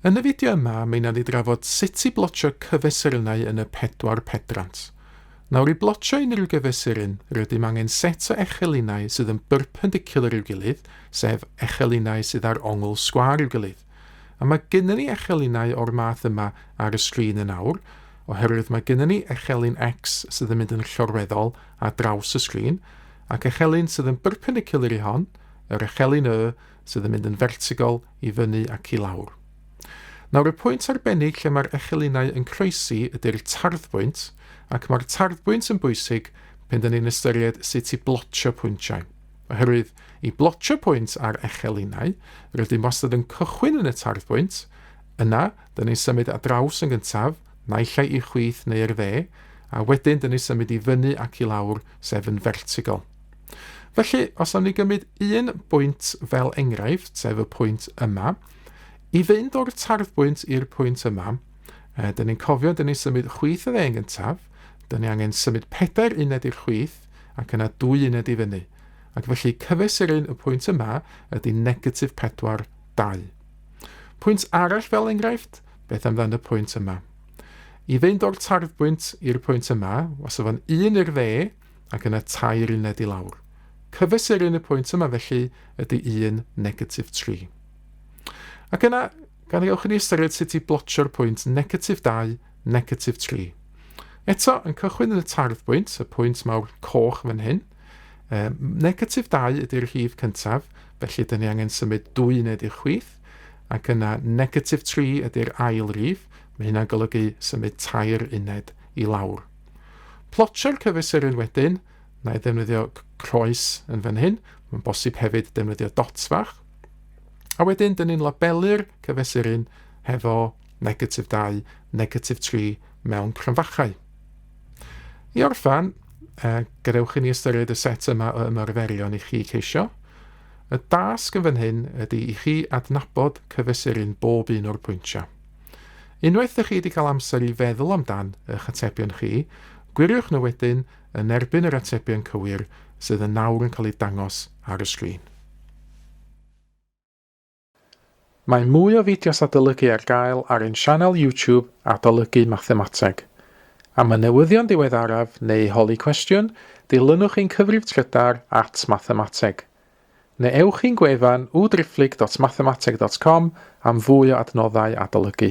Yn y fideo yma, mi wnawn ni drafod sut i blotio cyfesurynau yn y pedwar pedrant. Nawr, i blotio unrhyw gyfesuryn, rydym angen set o echelinau sydd yn byrpendicular i'w gilydd, sef echelinau sydd â'r ongl sgwâr i'w gilydd. A mae gynnon ni echelinau o'r math yma ar y sgrin yn awr, oherwydd mae gynnon ni echelin X sydd yn mynd yn llorweddol ar draws y sgrin, ac echelin sydd yn byrpendicular i hon, yr echelin Y, sydd yn mynd yn fertigol i fyny ac i lawr. Nawr y pwynt arbennig lle mae'r echelinau yn croesi ydy'r tarddbwynt ac mae'r tarddbwynt yn bwysig pan dyn ni'n ystyried sut i blotio pwyntiau. Oherwydd i blotio pwynt ar echelinau, rydym wastad yn cychwyn yn y tarddbwynt, yna dyn ni'n symud at draws yn gyntaf, naill ai i chwith neu i'r dde, a wedyn dyn ni'n symud i fyny ac i lawr, sef yn fertigol. Felly, os am ni gymryd un bwynt fel enghraifft, sef y pwynt yma, i fynd o'r tarddbwynt i'r pwynt yma, e, dyn ni'n cofio, dyn ni'n symud chwith y ddeng gyntaf, dyn ni angen symud pedair uned i'r chwith, ac yna dwy uned i fyny. Ac felly cyfesurin y pwynt yma ydy negatif 4, 2. Pwynt arall fel enghraifft, beth amdano y pwynt yma? I fynd o'r tarddbwynt i'r pwynt yma, os yfo'n un i'r dde, ac yna tair uned i lawr. Cyfesurun y pwynt yma felly ydy 1, negatif 3. Ac yna, gan i ewch i ni ystyried sut i blotio'r pwynt negatif 2, negatif 3. Eto, yn cychwyn yn y tardd bwynt, y pwynt mawr coch fan hyn. E, negatif 2 ydy'r rhif cyntaf, felly dyn ni angen symud dwy uned i'r chwith, ac yna negatif 3 ydy'r ail rif, mae hynna'n golygu symud tair uned i lawr. Plotio'r cyfesurydd wedyn, na i ddefnyddio croes yn fan hyn, mae'n bosib hefyd defnyddio dots fach. A wedyn, dyn ni'n labelu'r cyfesurydd hefo negatif 2, negatif 3 mewn crynfachau. I orffan, eh, gadewch i ni ystyried y set yma o ymarferion i chi ceisio. Y dasg yn fan hyn ydy i chi adnabod cyfesurydd bob un o'r pwyntiau. Unwaith dych chi wedi cael amser i feddwl amdan eich atebion chi, gwiriwch nhw wedyn yn erbyn yr atebion cywir sydd yn nawr yn cael eu dangos ar y sgrin. Mae mwy o fideos adolygu ar gael ar ein sianel YouTube Adolygu Mathemateg. Am y newyddion diweddaraf neu holi cwestiwn, dilynwch ein cyfrif trydar at Mathemateg. Neu ewch i'n gwefan www.driphlyg.mathemateg.com am fwy o adnoddau adolygu.